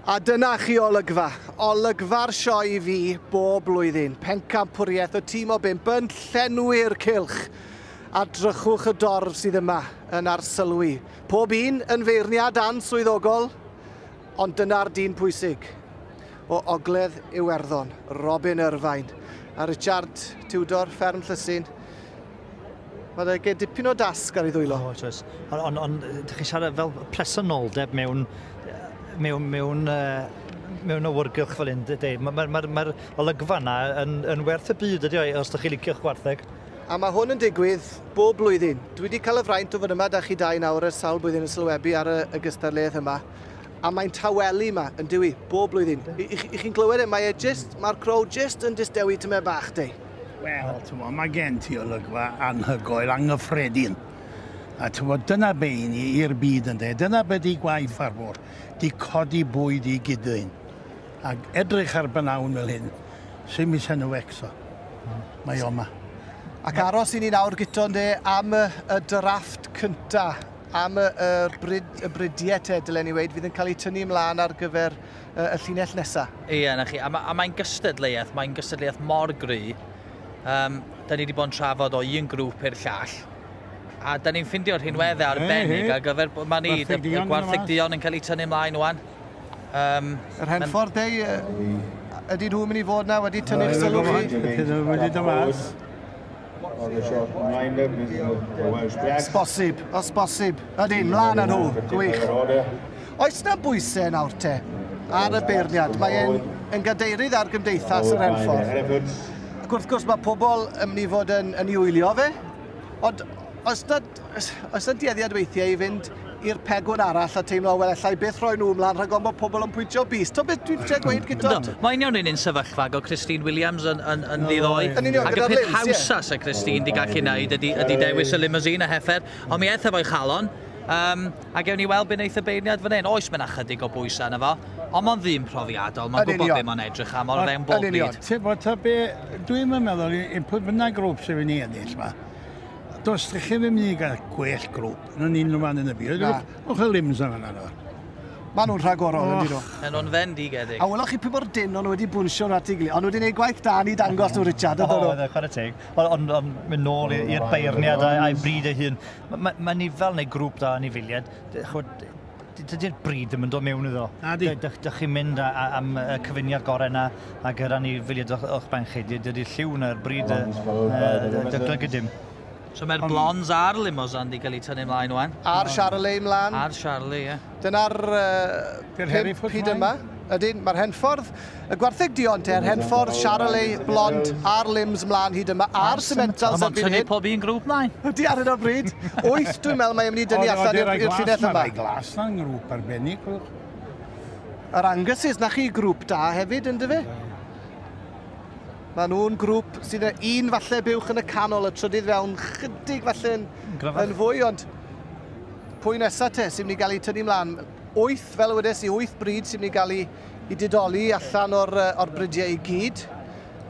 A dyna chi olygfa. Olygfa'r sioe i fi bob blwyddyn. Pencampwriaeth y tîm o bimp yn llenwi'r cilch. A drychwch y dorf sydd yma yn arsylwi. Pob un yn feirniad answyddogol, ond dyna'r dyn pwysig. O Ogledd Iwerddon, Robin Irvine. A Richard Tudor, Fferm Llysyn, Mae dda gen dipyn o dasg ar ei ddwylo. O, oes, oes. Ond on, on, ydych chi'n siarad fel presenoldeb mewn, mewn, mewn, uh, mewn awyrgylch fel hyn, Dave. Mae'r ma, ma, ma, ma olygfa yna yn, yn werth y byd ydi o, os ydych chi'n licio'ch gwartheg. A mae hwn yn digwydd bob blwyddyn. Dwi wedi cael y fraint o fod yma da chi dau nawr ers sawl blwyddyn yn sylwebu ar y, y gystadleuaeth yma. A mae'n tawelu yma, yn diwy, bob blwyddyn. I, i, i chi'n clywed e, mae e just, mae'r crow just yn distewi tymed bach, dei. Wel, tyfo, mae gen ti olygfa anhygoel, anghyffredin. A tyfo, dyna be i ni i'r byd yn de. Dyna be di gwaith ar fôr. Di codi bwyd i gydyn. A edrych ar bynawn fel hyn, sy'n mis yn y wecso. Mae o yma. Ac aros i ni nawr, Guto, de, am y, y drafft cynta, am y, y, bryd, y bridiau te, dylen ni weid, fydd yn cael eu tynnu ymlaen ar gyfer y llinell nesa. Ie, 'na chi. A, ma, a mae'n gystadleuaeth, mae'n gystadleuaeth mor gry. Um, da ni wedi bod yn trafod o un grŵp i'r llall. A da ni'n ffindio rhinweddau hmm. arbennig ar gyfer... Mae ni, y gwartheg dion yn cael ei tynnu ymlaen o'n. Um, Yr Henffordd Dei, ydy nhw'n mynd i fod na wedi tynnu'r sylw chi? Ydy nhw'n mynd i dymas? Os bosib, os bosib. Ydyn, mlaen â nhw. Gwych. Oes na bwysau nawr te ar y beirniad? Mae e'n yn gadeirydd ar Gymdeithas yr Henffordd. Ac wrth gwrs mae pobl yn mynd i fod yn, yn ei wylio fe. Ond oes na Os, os y dueddiad weithiau i fynd i'r pegwn arall a teimlo, wel, allai byth rhoi nhw ymlaen rhag ofn bod pobl yn pwyntio bys. To beth dwi'n tre gweud gyda... Mae'n iawn yn un sefyllfa, go Christine Williams yn, yn, yn ddiddoi. Ac y peth hawsa se Christine di gallu wneud ydy, ydy dewis y limousine a heffer, ond mi eitha fo'i chalon. Um, a gewn ni weld beth wneith y beirniad fan hyn. Oes, mae'n ychydig o bwysau yna fo, ond mae'n ddyn profiadol, mae'n gwybod beth mae'n edrych am, ond fewn bob byd. Ti'n bod, ta be, dwi'n meddwl, i pwy bynnag grŵp sy'n mynd i ennill yma, Does ddech chi ddim yn gael gwell grwp yn un unrhyw fan yn y byd. Na. O'ch y limbs yma na nawr. Mae nhw'n rhagorol, yn dyn nhw. Yn o'n fen digedig. A welwch chi pwy mor dyn o'n nhw wedi bwnsio nhw at ei gilydd. O'n nhw wedi gwneud gwaith da ni dangos nhw, Richard. O, oedd e, chwarae teg. Ond on, mynd nôl i'r beirniad a'i bryd ei hun. Mae ma, ma nifel neu grŵp da anifiliad, chwyd, dydy'r bryd ddim yn dod mewn iddo. Na di. Dych, dych chi'n mynd am y cyfuniad gorau yna a gyda ni filiad o'ch, o'ch ben chi. Dydy'r lliw na'r bryd y, y, y, dyglygu dim. So mae'r blondes a'r limos yn di cael ei tynnu mlaen o'n. A'r Charolais mlaen. A'r Charolais, ie. Dyna'r uh, pimp hyd yma. Ydyn, mae'r rhenffordd, y gwartheg duon te'r rhenffordd, Charolais, Blond, a'r limbs mlaen hyd yma, a'r cementals erbyn hyn. Mae'n tynnu pob un grŵp mlaen. Ydy ar hyn o bryd. Wyth, dwi'n meddwl, mae mynd i dynnu allan i'r llinell yma. Mae rai glas na'n grŵp arbennig. Yr Angus's, na chi grŵp da hefyd, ynddo fe? Mae nhw'n grŵp sydd yn un falle buwch yn y canol, y trydydd fewn, chydig falle'n yn fwy, ond pwy nesaf te sy'n mynd i gael ei tynnu mlaen? Wyth, fel y wedes i, wyth bryd sy'n mynd i gael ei, ei didoli allan o'r, uh, or bridiau i gyd.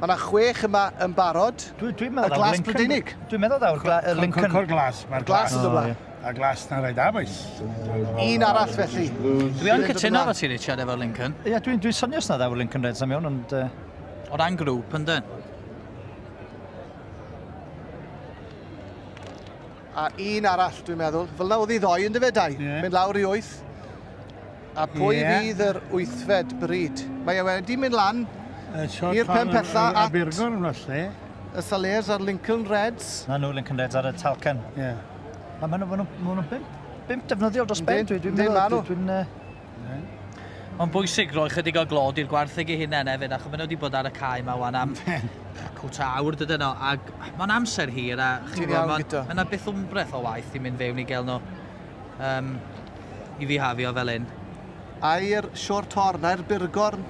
Mae yna chwech yma yn barod. Dwi'n dwi meddwl... Y glas Brydeinig. Dwi'n meddwl ddaw'r gla, y Lincoln... Cwrcwr glas. Mae'r glas yn dod blaen. A glas na rhaid abwys. Un arall felly. Dwi yn cytuno efo ti, Richard, efo'r Lincoln. Ie, dwi'n dwi sonio os na ddaw'r Lincoln Reds am iawn, ond... Uh... O ran grŵp, yndyn. A un arall, dwi'n meddwl. Fel na oedd hi ddoe, ynddo fe, Dai? Yeah. Mynd lawr i wyth. A pwy yeah. fydd yr wythfed bryd? Mae e wedi mynd lan i'r pen pella at... Abergorn, falle. Y Salers a'r Lincoln Reds. Na nhw, Lincoln Reds ar y Talcan. Ie. Yeah. Mae nhw'n bimp, bimp defnyddiol dros ben. Dwi'n meddwl, dwi'n... Mae'n bwysig roi chydig o glod i'r gwartheg ei hunain hefyd, achos maen nhw wedi bod ar y cae yma wan am cwt a awr dydyn nhw, ac mae'n amser hir, a chi'n gwybod, mae yna byth wmbreth o waith i mynd fewn i gael nhw um, i fihafio fel hyn. Ai'r Sior Torn, ai'r Burgorn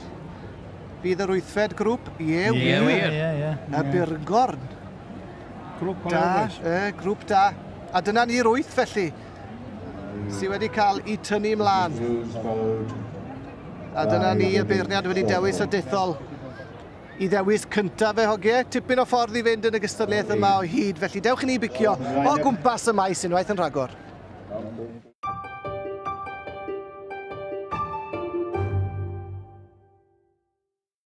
fydd yr wythfed grŵp? Ie, ie, wir. Ie, ie, Y Burgorn. Grŵp da, y grŵp da. A dyna ni'r wyth felly. sydd wedi cael ei tynnu ymlaen. A dyna ni y beirniad wedi dewis a dethol i ddewis cyntaf fe hogiau. Tipyn o ffordd i fynd yn y gystadleuaeth yma o hyd, felly dewch i ni bicio o gwmpas y maes unwaith yn rhagor.